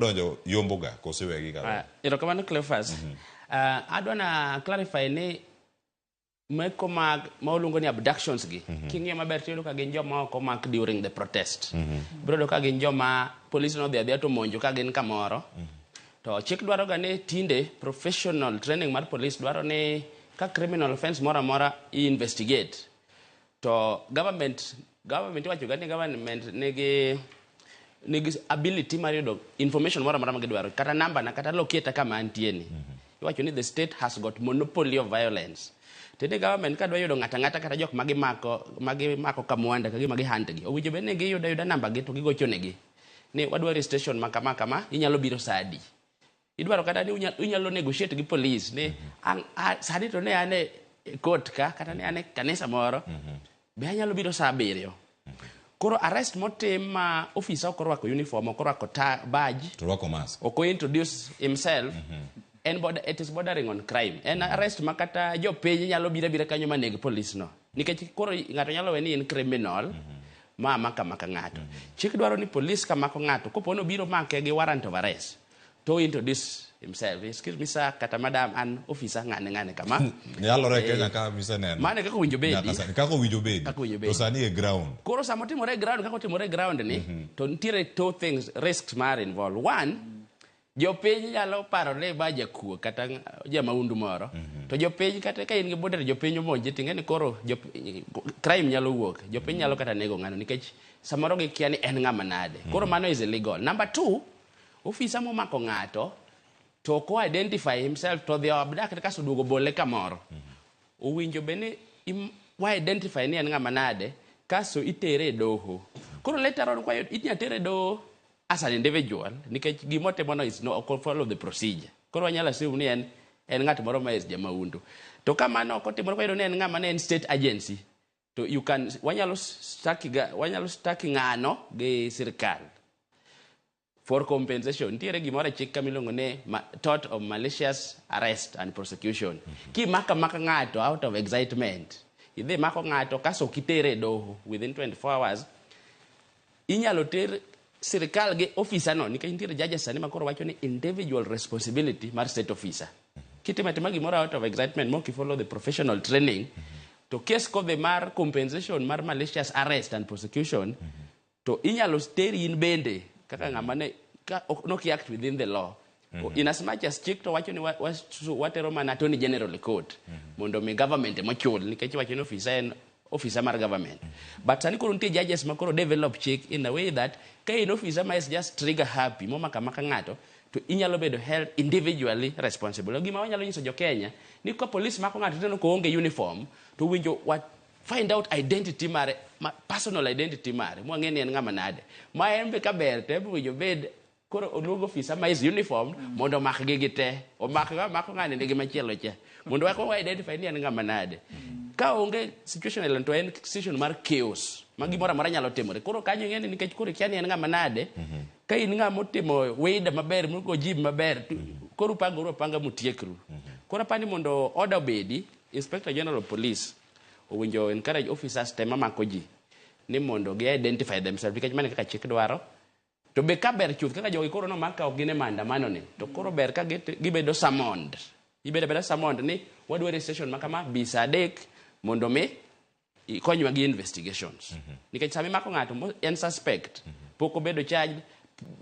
donjo yombo ga kose wegi ga Ah, erokamano cleofas Ah, adwa na clarify ni meko mag ma oluongo ni abductions gi king'iyo maber tiyudo ka gin joma ok omak during the protest biro yudo ka gin joma police nodhi adhiya to monjo ka gin kamoro to chik dwaro ga ni tinde professional training mar police dwaro ni ka criminal offense moro amora i investigate to government Government iwacho ga ni government nigi nigi ability mar yudo information moro amora ma gidwaro kata namba na kata locate kama antie ni iwacho ni the state has got monopoly of violence tinde government ka dwa yudo ng'ata ng'ata kata jok ma gimako ma gimako kamwanda ka gima gihand gi owinjo bed ni giyudo ayuda namba gi to gigochonegi ni wadwari station ma kama kama inyalo biro saa adi Idwaro kata ni unyalo, unyalo negotiate gi police ni an a- sani to ne an e court ka kata ne an e kanisa moro be anyalo biro saa abiriyo. Koro arrest motim ma ofisa ok orwako uniform, ok orwako ta- badge, To rwako mask. ok ointroduce himself en border, it is bordering on crime en arrest ma kata jopiny nyalo bira bira kanyo maneg police no nikech koro ng'ato nyalo we ni en criminal ma maka maka ng'ato chik dwaro ni police ka mako ng'ato kopo ni obiro make gi warrant of arrest To introduce himself. Excuse me sir, kata madam an officer ng'ane ng'ane kama. Nyalore Eh, Kenya ka miseneno. Mane kaka owinjo bedi. Nyaka sani. Kaka owinjo bedi. Kaka owinjo bedi. To sani e ground. Koro sama otimore e ground kaka otimore e ground ni to nitiere two things risks mar involved. One, jopiny nyalo paro ni ma jakuo kata ng- jamaundu moro to jopiny kata ka in gi boda to jopiny omonji tinge ni koro jop- crime nyalo wuok jopiny nyalo kata nego ng'ano nikech samoro gikia ni en ng'ama nade koro mano is illegal number two Ofisa momako ng'ato to ok o identify himself to odhi abduct kaso oduogo bole kamoro. Owinjo be ni im- wa identify ni en ng'ama nade kaso itere e doho. Koro later on kwayo inya tere e doho as an individual nikech gima otimono is no ok follow the procedure. Koro wanyalo assume ni en en ng'at moro ma is jamahundu. To ka mano ok otimore wayudo ni en ng'ama ne en state agency to you can wanyalo staki ga wanyalo staki ng'ano gi sirkal for compensation nitiere gimoro e chik kama iluongo ni ma- tort of malicious arrest and prosecution kimaka maka ng'ato out of excitement idhi mako ng'ato kaso kitere e doho within 24 hours Inyalo ter sirkal gi officer no nikech nitiere judges sani makoro wacho ni individual responsibility mar state officer. Kitimo atima gimoro out of excitement mok i follow the professional training to case kodhi mar compensation mar malicious arrest and prosecution to inyalo teri in bende kaka ng'ama ne ka ok noki act within the law In as much as chik to wacho ni wa- wasu- watero mana attorney general e court mondo mi government ema ochul nikech wacho ni ofisa en ofisa mar government but sani koro nitie judges ma koro develop chik in a way that ka in ofisa ma is just trigger happy momaka maka ng'ato to inyalo bedo held individually responsible gima wanyalo nyiso jo Kenya ni ka police mako ng'ato teno ko onge uniform to winjo wa find out identity mare ma, personal identity mare mwang'e ni en ng'ama nade ma en be kaber to ebe winjo bed koro oluongo ofisa ma is uniform mondo omakgi gi te omakga mako ng'ani nigi machielo cha mondo wako wa identify ni en ng'ama nade ka onge situation island to en situation mar chaos ma gimoro amora nyalo timore koro kanyo ing'e ni nikech koro ikia ni en ng'ama nade ka in ng'ama otimo wida maber mogo jib maber to koro upangoru apanga mutiekru koro apani mondo order obedi inspector general of police owinjo encourage officers te mamako ji ni mondo gi identify themselves nikech mano e kaka chik dwaro To be ka ber chuth kaka jogi koro nomak ka ok gin e maandamano ni, to koro ber ka git- gibedo summoned. Ibedo abeda summoned ni wadwari e station ma kama bi saa adek mondo mi ikonywa gi investigations. Nikech sama imako ng'ato mo- en suspect, pok obedo charged,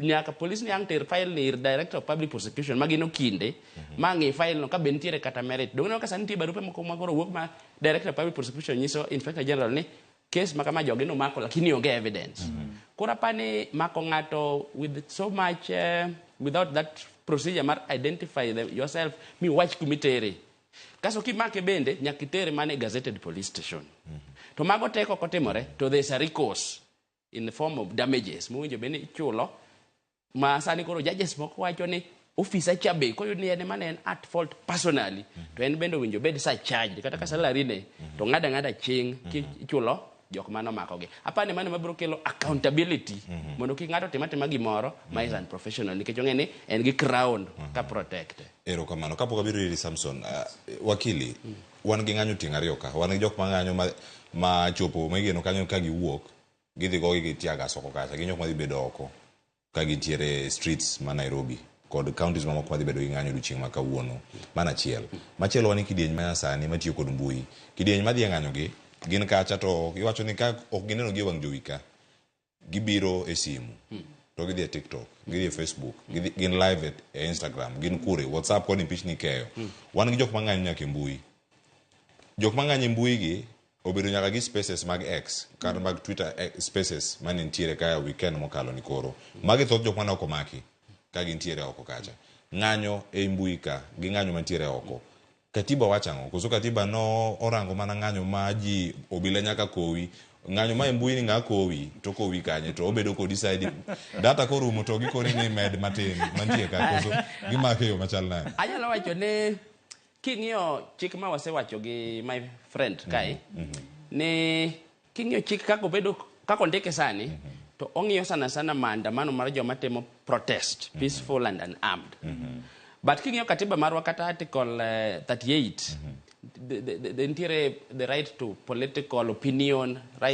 nyaka polis ni ang' ter file ni ir director of public prosecution ma gin okinde ma ng'i file no ka be nitiere kata merit. Donge ineno ka sani nitie barupe moko ma koro wuok ma director of public prosecution nyiso inspector general ni Kes ma kama jogi nomako lakini onge evidence. Mm -hmm. Koro apa ni mako ng'ato with so much uh, without that procedure mar identify the, yourself mi wach kumitere. Kaso kimake bende nyaka itere mane gazetted police station. Mm -hmm. To mago teko kotimore to there's a recourse in the form of damages. Muwinjo bende ichulo Ma sani koro judges moko wacho ni ofisa cha be koyud ni en ema ne en at fault personally to en bende owinjo obed surcharged kata ka salary ne to ng'ada ng'ada ching kichulo jok mane omakogi. Apani mano ema biro kelo accountability mondo kik ng'ato otim atima gimoro ma is unprofessional nikech ong'e ni en gi crown ka protect. Erokamano. Kapok abiro iri Samson, ah, wakili, wan gi ng'anyo tieng' ariyo ka. Wan gi jok ma ng'anyo ma, ma chopo, ma igeno kanyo ka giwuok, Gidhi gogi gi tear gas oko kacha, gin jok madhi bedo oko ka gintiere e streets ma Nairobi kod counties mamoko madhi bedo gi ng'anyo odiochieng' ma kawuono. Mano achiel. Machielo wan gi kidieny ma nyasani matiyo kod mbui. Kidieny madhi e ng'anyogi gin kacha to iwacho ni ka ok gineno gi e wang' jowi ka, gibiro e simu to gidhi e TikTok, gidhi e Facebook, gidhi, gin live e, e Instagram, gin kure, WhatsApp koni pichni ikeyo. Wan gi jok mang'anyo nyaka e mbui. Jok mang'anyo e mbui gi Obedo nyaka gi spaces mag X kata mm. mag Twitter eh, spaces mane nitiere kaya weekend mokalo ni koro. Magi thoth jok mane ok omaki ka gintiere oko kacha. Ng'anyo ei mbui ka gi ng'anyo mantiere oko. Katiba wacho ang'o? Koso katiba no orango mana ng'anyo ma ji obila nyaka kowi ng'anyo ma e mbui ni ng'a kowi to kowi kanye to obedo kodi saidi data korumo to gikoni ni med matin mantie ka koso gimake yo machal nade anyalo wacho ni King'iyo chik ma wasewacho gi my friend mhm, kae mhm. ni king'iyo chik kako bedo kako ndike sani mhm. to ong'iyo sana sana maandamano mar joma timo protest peaceful and unarmed but king'iyo katiba marwa kata article 38 eh, nitiere the right to political opinion right